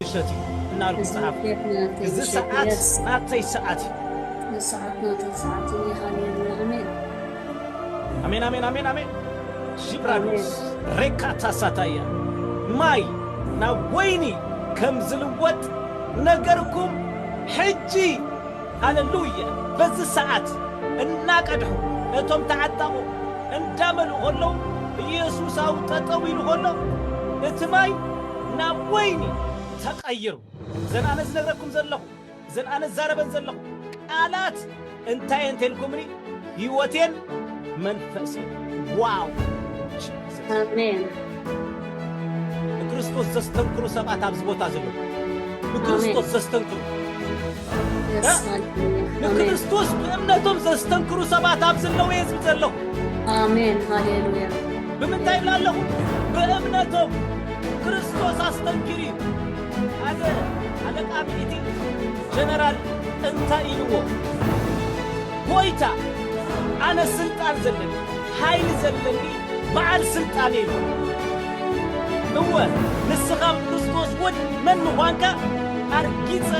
ውሸት እዩ እናልኩ ጸሓፉ። እዚ ሰዓት ናተይ ሰዓት እዩ። እዚ ሰዓት ናተይ ሰዓት እዩ። እኔ ሃሌሉያ ኣሜን። ኣሜን ኣሜን ኣሜን ኣሜን ሺብራዶስ ሬካታ ሳታያ ማይ ናብ ወይኒ ከም ዝልወጥ ነገርኩም ሕጂ ሃለሉያ በዚ ሰዓት እናቀድሑ ነቶም ተዓጠቑ እንዳመልኡ ከለዉ ኢየሱሳዊ ጠጠው ኢሉ ከሎ እቲ ማይ ናብ ወይኒ ተቐይሩ። እዘን ኣነ ዝነግረኩም ዘለኹ፣ እዘን ኣነ ዝዛረበን ዘለኹ ቃላት እንታይ እየን ተልኩምኒ? ህይወቴን መንፈሴን። ዋው ጂሰስ! ኣሜን። ንክርስቶስ ዘስተንክሩ ሰባት ኣብዚ ቦታ እዚ ኣለዉ። ኣሜን። ንክርስቶስ ዘስተንክሩ። ንክርስቶስ ብእምነቶም ዘስተንክሩ ሰባት ኣብ ዘለዉ እየ ዝብል ዘለኹ ኣሜን ሃሌሉያ ብምንታይ ይብላ ኣለኹ ብእምነቶም ክርስቶስ ኣስተንኪሩ እዩ ሓደ ኣለቃ ሚኒቲ ጀነራል እንታይ ኢልዎ ጎይታ ኣነ ስልጣን ዘለኒ ሓይሊ ዘለኒ በዓል ስልጣን ኢሉ። እወ ንስኻ ብክርስቶስ ውን መን ምዃንካ ኣርጊጸ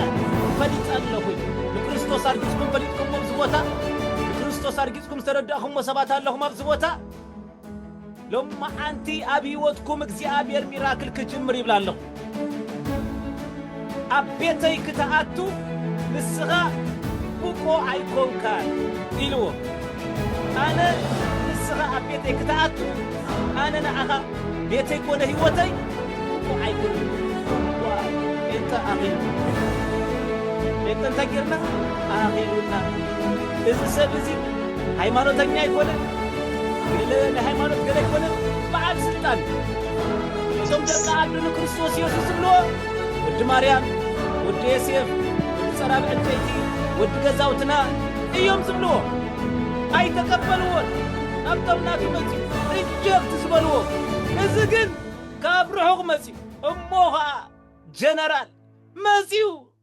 ፈሊጠ ኣለኹ ኢሉ። ንክርስቶስ ኣርጊጽኩም ፈሊጥኩምዎ ኣብዚ ቦታ? ንክርስቶስ ኣርጊጽኩም ዝተረዳእኹምዎ ሰባት ኣለኹም ኣብዚ ቦታ? ሎምዓንቲ ኣብ ህይወትኩም እግዚኣብሔር ሚራክል ክጅምር ይብል ኣለኹ። ኣብ ቤተይ ክትኣቱ ንስኻ ብቁ ኣይኮንካን ኢልዎ። ኣነ ንስኻ ኣብ ቤተይ ክትኣቱ ኣነ ንዓኻ ቤተይ ኮነ ህይወተይ ብቁ ኣይኮንኩን። ዋይ ጴንጠ ኣኺሉ ጴንጠ እንታይ ጌርና ኣኺሉና እዚ ሰብ እዚ ሃይማኖተኛ ኣይኮነን ገለ ናይ ሃይማኖት ገለ ኣይኮነን በዓል ስልጣን እዩ። እዞም ደቂ ዓዱ ንክርስቶስ የሱስ ዝብልዎ ወዲ ማርያም፣ ወዲ ዬሴፍ፣ ወዲ ጸራብ ዕንጨይቲ፣ ወዲ ገዛውትና እዮም ዝብልዎ። ኣይተቀበልዎን ናብቶም ናቱ መጺኡ ሪጀክት ዝበልዎ። እዚ ግን ካብ ርሑቅ መጺኡ እሞ ከኣ ጀነራል መጺኡ።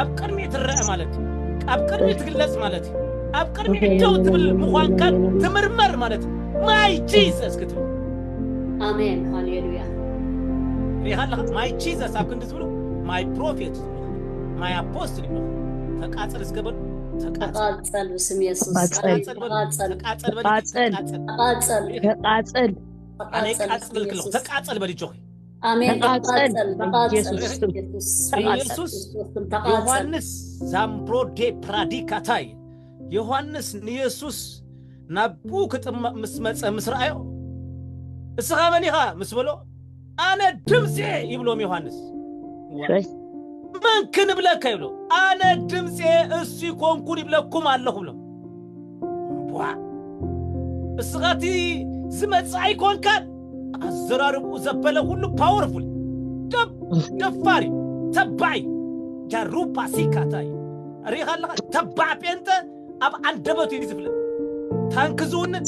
ኣብ ቅድሚ ትረአ ማለት እዩ ኣብ ቅድሚ ትግለጽ ማለት እዩ ኣብ ቅድሚ ደው ትብል ምዃንካን ትምርመር ማለት እዩ ማይ ጂዘስ ክትብል ኣሜን ሃሌሉያ ሪኻ ኣለኻ ማይ ጂዘስ ኣብ ክንዲ ዝብሉ ማይ ፕሮፌት ዝብሉ ማይ ኣፖስትል ይብሉ ተቃጽል እስከ በሉ ተቃጽል ተቃጸል ብስም የሱስ ተቃጸል። ተቃጸል በሉ ተቃጸል ተቃጸል በሉ ተቃጸል። ተቃጸል ተቃጸል ተቃጸል ኣነ ተቃጸል ቃጽል ብስም ክልኹ የሱስ ተቃጸል በሉ ጆኺ ኣሜን ተቓጸል ተቓጸል ተቓጸል ኢየሱስ ስም ኢየሱስ ተቓጸል ኢየሱስ ክርስቶስ ስም ተቓጸል ዮሐንስ ዛምብሮዴ ፕራዲካታይ ዮሐንስ ንየሱስ ናብኡ ክጥመቕ ምስ መጸ ምስ ረኣዮ እስኻ መን ኢኻ ምስ በሎ ኣነ ድምፂ እየ ይብሎም ዮሐንስ ሸይ መን ክንብለካ ይብሎ ኣነ ድምፂ እየ እሱ ኮንኩን ይብለኩም ኣለኹ ብሎም እምቧእ! እስኻ እቲ ዝመጽእ ኣይኮንካን? ኣዘራርብኡ ዘበለ ኩሉ ፓወርፉል ደብ ደፋሪ ተባዕ እዩ ጃሩ ፓሲካ እንታይ እዩ ርኢኻ ኣለኻ ተባዕ ጴንጠ ኣብ ኣንደበቱ እዩ ዝፍለጥ ታንክ ዝውንን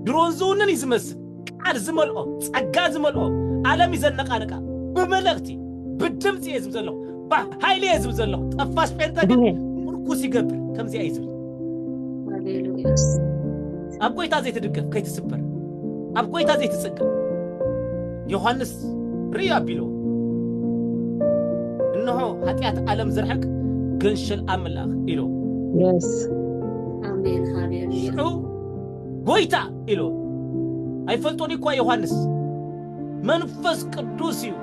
ድሮን ዝውንን እዩ ዝመስል ቃል ዝመልኦ ጸጋ ዝመልኦ ኣለም እዩ ዘነቃንቃ ብመልእክቲ ብድምፂ እየ ዝብ ዘለኹ ብሓይሊ እየ ዝብ ዘለኹ ጠፋሽ ጴንጠ ግን ምርኩስ ይገብር ከምዚኣ እዩ ዝብል ኣብ ጎይታ ዘይትድገፍ ከይትስበር ኣብ ጎይታ ዘይትጽገ ዮሐንስ ርእዩ ኣቢሎ እነሆ ኃጢኣት ዓለም ዝርሕቅ ገንሸል ኣምላኽ ኢሎ Yes. ኣሜን ሃሌሉያ ሽዑ ጎይታ ኢልዎ ኣይፈልጦን እዩኳ ዮሃንስ መንፈስ ቅዱስ እዩ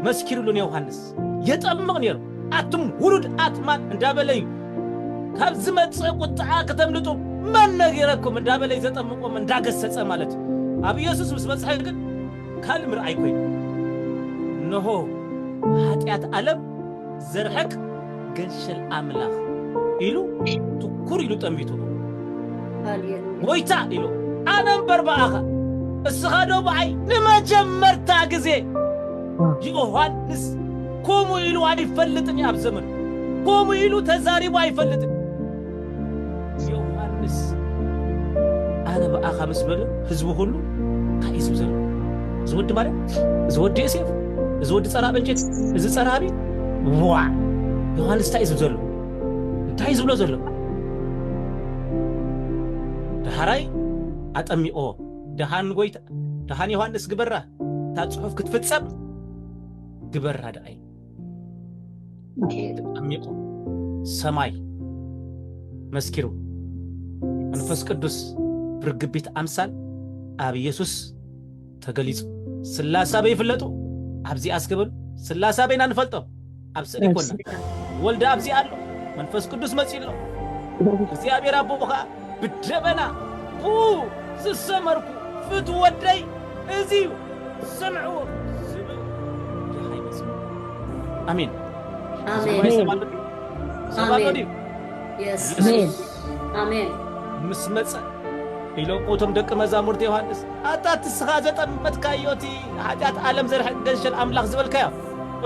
መስኪሩሉ ንዮሃንስ የጠምቕ ነይሩ ኣቱም ውሉድ ኣትማን እንዳበለ እዩ ካብ ዝመጽእ ቁጥዓ ክተምልጡ መን ነጊረኩም እንዳበለ እዩ ዘጠምቆም እንዳገሰጸ ማለት እዩ ኣብ ኢየሱስ ምስ በጽሐ ግን ካልእ ምርኣይ ኮይኑ እነሆ ኃጢኣት ዓለም ዘርሕቅ ገንሸል ኣምላኽ ኢሉ ትኩር ኢሉ ጠሚቱሉ ሃሌሉያ ጎይታ ኢሉ ኣነ እምበር ብኣኻ እስኻ ዶ ብኣይ ንመጀመርታ ግዜ ዮሃንስ ከምኡ ኢሉ ኣይፈልጥን እዩ ኣብ ዘመኑ ከምኡ ኢሉ ተዛሪቡ ኣይፈልጥን ዮሃንስ ኣነ ብኣኻ ምስ በለ ህዝቢ ኩሉ እንታይ እዩ ዝብ ዘሎ እዚ ወዲ ማለት እዚ ወዲ ዮሴፍ እዚ ወዲ ፀራብ እንጨት እዚ ፀራቢ ዋዕ ዮሃንስ እንታይ እዩ ዝብ ዘሎ እንታይ እዩ ዝብሎ ዘሎ ደሃራይ ኣጠሚቆ ደሃን ጎይታ ደሃን ዮሃንስ ግበራ እታ ፅሑፍ ክትፍፀም ግበራ ደኣይ ተጠሚቁ ሰማይ መስኪሩ መንፈስ ቅዱስ ብርግቢት ኣምሳል ኣብ ኢየሱስ ተገሊጹ ስላሳ በይ ይፍለጡ ኣብዚ ኣስገበሉ ስላሳ በይና ንፈልጦ ኣብ ስእሊ ኮና ወልደ ኣብዚ ኣሎ መንፈስ ቅዱስ መጺኡ ኣሎ እግዚኣብሔር ኣቦ ከዓ ብደበና ቡ ዝሰመርኩ ፍትወደይ እዚ እዩ ስምዕዎ ዝብል ደሃይ መጽእ ኣሜን ሰማይ ሰብ ኣሎ ድዩ ሰብ ኣሎ ድዩ ኣሜን ምስ መጸ ኢሎም እቶም ደቂ መዛሙርቲ ዮሃንስ ኣታ ትስኻ ዘጠመትካዮ እቲ ሓጢኣት ዓለም ዘርሕቅ ገንሸል ኣምላኽ ዝበልካዮ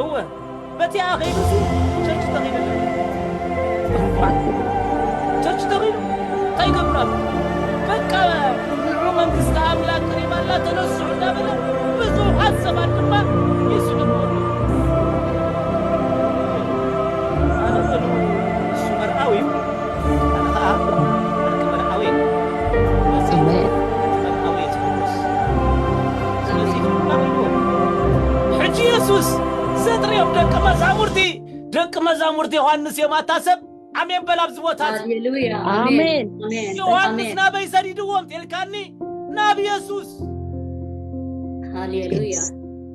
እወ በቲ ኣኼቡ እዚ ቸርች ተኺሉ ኣሎ ክቡራት ቸርች ተኺሉ እንታይ ይገብር ኣሎ በቃ ንዑ መንግስቲ ኣምላክ ቅሪባ ኣላ ተነስዑ እንዳበለ ብዙሓት ሰባት ድማ ይስዕብዎ ኣሎ ኣነ በሉ ንሱ መርኣዊ እዩ መዛሙርቲ ዮሃንስ እዮም ኣታ ሰብ ኣሜን በል ኣብዚ ቦታ ኣሜን ዮሃንስ ናበይ ሰዲድዎም ቴልካኒ ናብ የሱስ ሃሌሉያ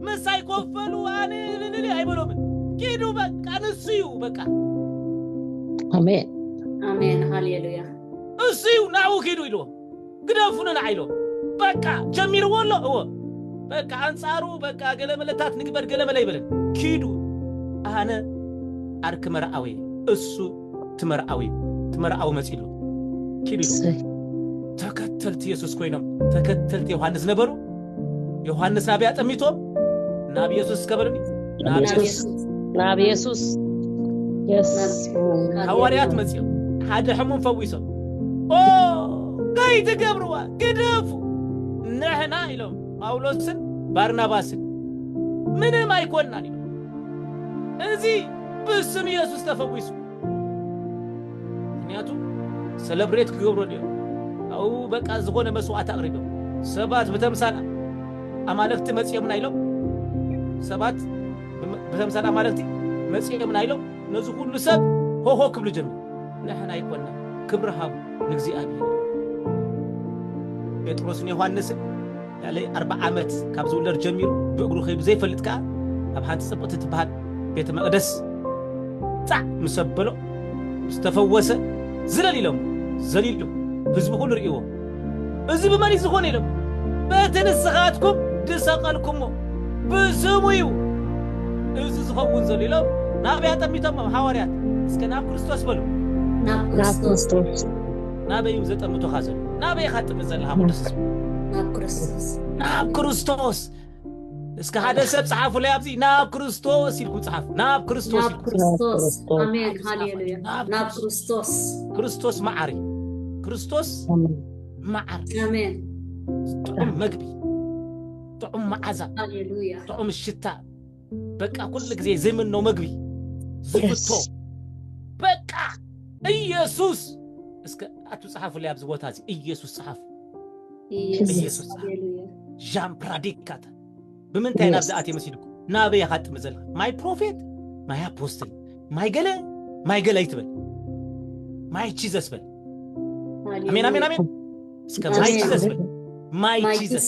ምሳይ ኮፈሉ ኣነ እልልል ኣይበሎምን ኪዱ በቃ ንሱ እዩ በቃ ኣሜን ኣሜን ሃሌሉያ እሱ እዩ ናብኡ ኪዱ ኢልዎ ግደፉ ንንዓ ኢሎም በቃ ጀሚርዎ ኣሎ እዎ በቃ ኣንጻሩ በቃ ገለመለታት ንግበር ገለመለ ይበለን ኪዱ ኣነ ኣርክ መርኣወይ እሱ እቲ መርዓዊ እቲ መርዓዊ መጺሉ ኪድ ኢሉ እሰይ ተከተልቲ የሱስ ኮይኖም ተከተልቲ ዮሃንስ ነበሩ ዮሃንስ ናበይ ኣጠሚቶም ናብ የሱስ ከበሉኒ ናብ ናብ የሱስ የሱስ ናብ የሱስ የስ ናብ ሃዋርያት የሱስ መጺኦም ሓደ ሕሙም ፈዊሶም ኦ ከይትገብርዋ ግደፉ ንሕና ኢሎም ጳውሎስን ባርናባስን ምንም ኣይኮናን ኢሎም እዚ ብስም ኢየሱስ ተፈዊሱ ምክንያቱ ሰለብሬት ክገብሩ ድዮም ኣው በቃ ዝኾነ መስዋዕት ኣቕሪቦም ሰባት ብተምሳል ኣማለክቲ መጺኦምና ኢሎም ሰባት ብተምሳል ኣማለክቲ መጺኦምና ኢሎም ነዚ ኩሉ ሰብ ሆሆ ክብሉ ጀመሩ ንሕና ኣይኮና ክብሪ ሃቡ ንእግዚኣብሔር ጴጥሮስን ዮሃንስን ልዕሊ ኣርብዓ ዓመት ካብ ዝውለድ ጀሚሩ ብእግሩ ከይዱ ዘይፈልጥ ከኣ ኣብ ሓንቲ ጽብቕቲ ትበሃል ቤተ መቕደስ ጣዕ ምስ ኣበሎ ምስ ተፈወሰ ዝለል ኢሎም ዘሊሉ ህዝቢ ኩሉ ርእይዎ እዚ ብመን እዩ ዝኾነ ኢሎም በቲ ንስኻትኩም ዝሰቐልኩሞ ብስሙ እዩ እዚ ዝኸውን ዘሎ ኢሎም ናበይ ኣጠሚቶሞም ሓዋርያት እስከ ናብ ክርስቶስ በሉ ናብ ናብ ክርስቶስ ክርስቶስ ናበይ እዩ ዘጠምቶኻ ዘሎ? ናበይ ኢኻ ትጥምት ዘለኻ ቅዱስ ህዝቢ? ናብ ክርስቶስ ናብ ክርስቶስ እስከ ሓደ ሰብ ጸሓፉለይ ኣብዚ ናብ ክርስቶስ ኢልኩም ጸሓፉ ናብ ክርስቶስ ናብ ኢልኩም ክርስቶስ ክርስቶስ። ኣሜን ሃሌሉያ ናብ ናብ ክርስቶስ ክርስቶስ መዓሪ ክርስቶስ መዓር ኣሜን ጥዑም መግቢ ጥዑም መዓዛ ሃሌሉያ ጥዑም ሽታ በቃ ኩሉ ግዜ ዘይምኖ መግቢ ዝፍቶ በቃ ኢየሱስ እስከ ኣቱ ጸሓፉለይ ኣብዚ ቦታ እዚ ኢየሱስ ጸሓፉ ኢየሱስ ዣን ፕራዲካተ ብምንታይ ናብዚ ኣትየ መሲድኩ ናበይ ኢኻ ጥሚ ዘለካ ማይ ፕሮፌት ማይ ኣፖስትል ማይ ገለ ማይ ገለ ይትበል ማይ ቺዘስ በል ኣሜን ኣሜን ኣሜን እስከ ማይ ቺዘስ በል ማይ ቺዘስ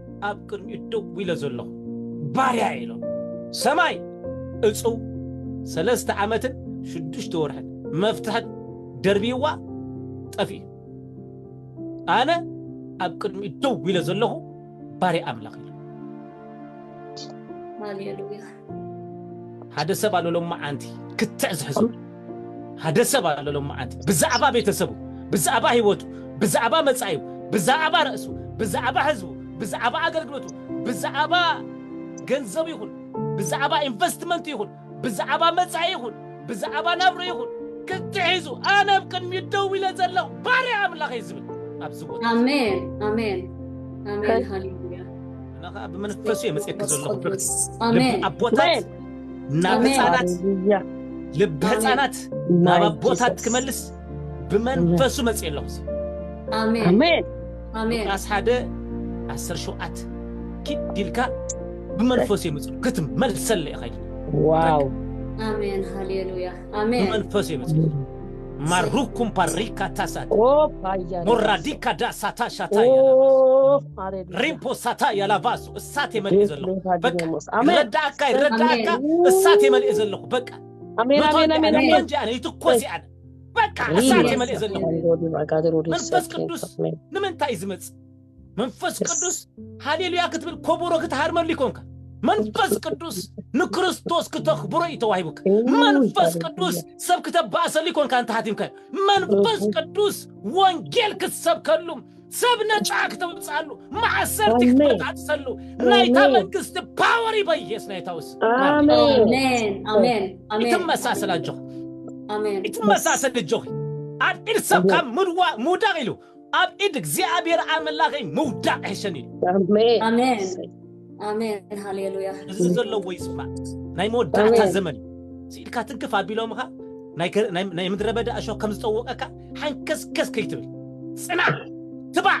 ኣብ ቅድሚኡ ደው ኢለ ዘሎኹ ባርያ እየ ኢሎም። ሰማይ እጹው ሰለስተ ዓመትን ሽዱሽተ ወርሕን መፍትሕን ደርብይዋ ጠፊኡ። ኣነ ኣብ ቅድሚኡ ደው ኢለ ዘሎኹ ባርያ ኣምላኽ ኢሎም። ሃሌሉያ ሃደ ሰብ ኣሎ ሎማዓንቲ ክትዕ ዝሕዞ ሃደ ሰብ ኣሎ ሎማዓንቲ ብዛዕባ ቤተሰቡ ብዛዕባ ህይወቱ ብዛዕባ መጻኢኡ ብዛዕባ ርእሱ ብዛዕባ ህዝቡ ብዛዕባ ኣገልግሎቱ ብዛዕባ ገንዘቡ ይኹን ብዛዕባ ኢንቨስትመንቱ ይኹን ብዛዕባ መጻኢ ይኹን ብዛዕባ ናብራ ይኹን ክትሒዙ ኣነ ኣብ ቅድሚኡ ደው ኢለ ዘለኹ ባርያ ኣምላኽ እየ ዝብል ኣብዚ ቦታ ኣሜን ኣሜን ኣሜን ሃሌሉያ እና ከዓ ብመንፈሱ እየ መፅየኪ መንፈስ ዘለኹ ብርክ ቅዱስ ልቢ ኣሜን ኣቦታት ናብ ኣሜን ህፃናት ሃሌሉያ ልቢ ህፃናት ናብ ኣሜን ኣቦታት ጂሰስ ክመልስ ብመንፈሱ መጽእ ኣለኹ እዚ ኣሜን ኣሜን ኣሜን ሉቃስ ሓደ ዓሰር ሸውዓት ኪድ ኢልካ ብመንፈሱ የምጽእ ክትመልሰለ ኢኻ ኢሉ ዋው ኣሜን ሃሌሉያ ኣሜን ብመንፈሱ የምጽእ ማሩኩም ፓሪካ ታሳት ኦ ባያ ሞራዲካ ዳሳታ ሻታ ኦ ያላባሱ ሃሌሉያ ሪምፖ ሳታ ያላባሱ እሳት የመልእ ዘለኹ በቃ ይረዳእካ ይረዳእካ እሳት የመልእ ዘለኹ በቃ ኣሜን መቶ ኣሜን ኣሜን እንዲኣነ ኣሜን እንዲኣነ ይትኮስ እየ ኣነ በቃ እሳት እየ መልእ ዘለኹ መንፈስ ቅዱስ ንምንታይ እዩ ዝመፅእ መንፈስ ቅዱስ ሃሌሉያ ክትብል ኮቦሮ ክትሃርመሉ ይኮንካ መንፈስ ቅዱስ ንክርስቶስ ክተኽብሮ እዩ ተዋሂቡካ መንፈስ ቅዱስ ሰብ ክተባእሰሉ ይኮንካ እንተሃቲምካዮ መንፈስ ቅዱስ ወንጌል ክትሰብከሉ ሰብ ነፃ ክተውፅኣሉ ማእሰርቲ ኣሜን። ክትበጣጥሰሉ ናይታ ኣሜን። መንግስቲ ፓወር ይበየስ ናይታ ውስ ኣሜን ኣሜን ኣሜን ኣሜን ይትመሳሰል ኣጆኺ ኣሜን ይትመሳሰል እጆኺ ኣብ ኢድ ሰብ ካብ ምድዋ- ምውዳቕ ኢሉ ኣብ ኢድ እግዚኣብሔር ኣምላኸይ ምውዳቕ ይሕሸኒ ኢሉ ኣሜን ኣሜን ኣሜን ሃሌሉያ እዚ ዘለዎ ይስማዕ ናይ መወዳእታ ኣሜን። ዘመን እዩ ስኢልካ ትንክፍ ኣቢሎምኻ ናይ ገ- ናይ- ናይ ምድረ በዳ እሾ ከም ዝጠወቀካ ሓንከስከስ ከይትብል ፅናዕ ትባዕ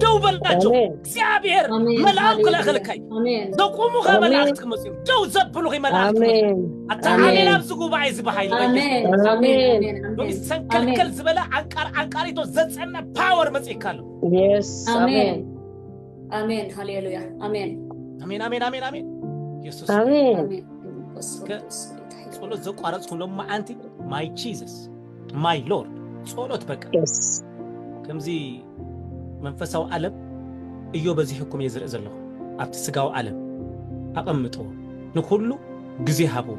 ደው በልናቸው ኣሜን። እግዚኣብሔር ኣሜን መልኣም ሃሌሉያ ክልእኸልካ እዩ ኣሜን ዘቁሙኸ ኣሜን። መላእክት ክመፁ እዮም ደው ዘብሉኸ መላእክት ክመፁ እዮም። ኣሜን ኣታ ኣሜን። ኣሜን ኣብዚ ጉባኤ እዚ ብሃይሊ በኢየሱስ ኣሜን ኣሜን ኣሜን ኣሜን ሎሚ ኣሜን ሰንከልከል ዝበለ ዓንቃር ዓንቃሪቶ ዘፀነ ፓወር መፅእካ ኣሎ የስ ኣሜን ኣሜን ኣሜን ሃሌሉያ ኣሜን ኣሜን ኣሜን ኣሜን ኣሜን የሱስ ኣሜን ኣሜን መንፈስ ከ- ቅዱስ ጌታ ይባርክ። ጸሎት ዘቋረጽኩም ሎም መዓንቲ ማይ ጂዘስ ማይ ሎርድ ጸሎት በቃ የስ ከምዚ መንፈሳዊ ዓለም እዮ በዚሕኩም እየ ዝርኢ ዘለኹ ኣብቲ ስጋዊ ዓለም ኣቐምጥዎ ንኹሉ ግዜ ሃብዎ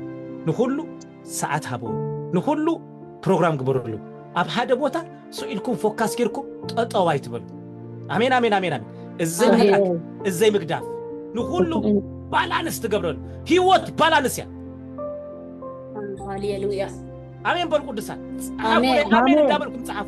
ንኹሉ ሰዓት ሃብዎ ንኩሉ ፕሮግራም ግበርሉ ኣብ ሃደ ቦታ ሱቅ ኢልኩም ፎካስ ጌርኩም ጠጠው ኣይትበሉ ኣሜን ኣሜን ኣሜን ኣሜን እዘይ ምሕዳግ ኣሜን እዘይ ምግዳፍ ንኩሉ ባላንስ ትገብረሉ ህይወት ባላንስ እያ ሃሌሉያ ኣሜን በሉ ቅዱሳን ጸሓፉ ኣሜን። ኣሜን ኣሜን። እንዳበልኩም ጸሓፉ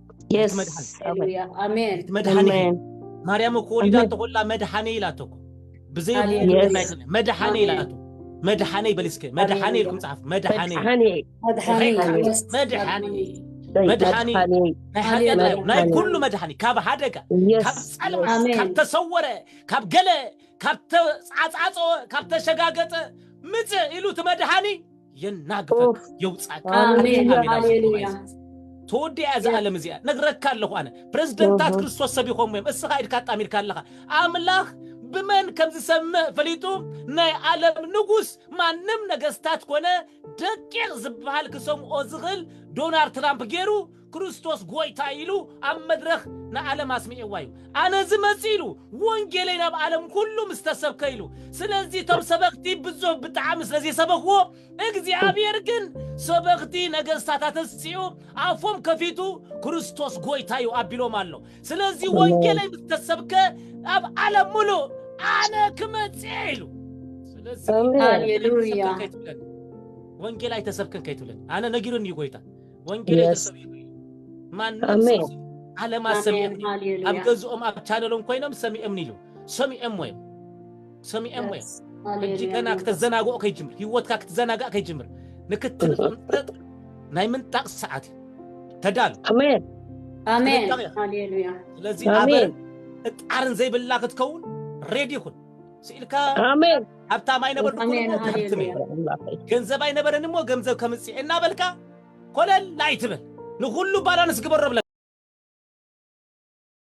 የስ መድሓኒ ማርያም እኮ ወሊዳቶ ኮላ መድሓኒ ኢላቶ እኮ ብዘይ መድሓኒ ኢላቶ መድሓኒ በል እስከ መድሓኒ ኢልኩም ፃሓፍ መድሓኒ መድሓኒ ናይ ሓጢኣት ናይ ኩሉ መድሓኒ ካብ ሓደጋ ካብ ፀልማ ካብ ተሰወረ ካብ ገለ ካብ ተፃፃፀወ ካብ ተሸጋገፀ ምፅእ ኢሉ እቲ መድሓኒ የናግፈካ የውፃካ ሃሌሉያ ተወዲያ እዛ ዓለም እዚኣ ነግረካ ኣለኹ ኣነ ፕረዚደንታት ክርስቶስ ሰቢኾም እዮም እስኻ ኢድካ ኣጣሚርካ ኣለኻ ኣምላኽ ብመን ከም ዝሰምዕ ፈሊጡ ናይ ዓለም ንጉስ ማንም ነገስታት ኮነ ደቂቕ ዝበሃል ክሰምዖ ዝኽእል ዶናልድ ትራምፕ ገይሩ ክርስቶስ ጎይታ ኢሉ ኣብ መድረኽ ንዓለም ኣስሚዕዋ እዩ። ኣነ ዝመጽእ ኢሉ ወንጌለይ ናብ ዓለም ኩሉ ምስ ተሰብከ ኢሉ። ስለዚ እቶም ሰበኽቲ ብዙሕ ብጣዕሚ ስለ ዘይሰበኽዎ፣ እግዚኣብሔር ግን ሰበኽቲ ነገስታት ኣተስጺኡ ኣፎም ከፊቱ ክርስቶስ ጎይታ እዩ ኣቢሎም ኣሎ። ስለዚ ኣሜን። ወንጌለይ ምስ ተሰብከ ኣብ ዓለም ምሉእ ኣነ ክመጽእ ኢሉ። ስለዚ ኣሜን። ወንጌል ኣይተሰብከን ሃሌሉያ። ከይትብለኒ። ወንጌል ኣይተሰብከን ከይትብለኒ። ኣነ ነጊሩኒ እዩ ጎይታ። ወንጌል Yes. ተሰቢኹ እዩ ማንም ኣሜን። ሰብ ዓለማት ኣሜን ሰሚኦምኒ እዩ። ኣብ ሃሌሉያ ገዝኦም ኣብ ቻነሎም ኮይኖም ሰሚኦምኒ እዩ ሰሚኦምዎ እዮም ሰሚኦምዎ እዮም ሕጂ ሃሌሉያ ገና ክተዘናግኦ ከይጅምር ህይወትካ ክትዘናጋእ ከይጅምር ንክትንጥረጥ ናይ ምንጣቅ ሰዓት እዩ ተዳሉ ኣሜን ኣሜን ጥንቃቄ። ሃሌሉያ ስለዚ ኣሜን ኣበርን እጣርን ዘይብላ ክትከውን ሬዲ ይኹን ስኢልካ ኣሜን ሃብታም ኣይነበርኩን እሞ ክሃብትም እየ፣ ገንዘብ ኣይነበረን እሞ ገንዘብ ከምጽእ እየ እናበልካ ኮለል ኣይትበል፣ ንኹሉ ባላንስ ግበሮ እብለካ።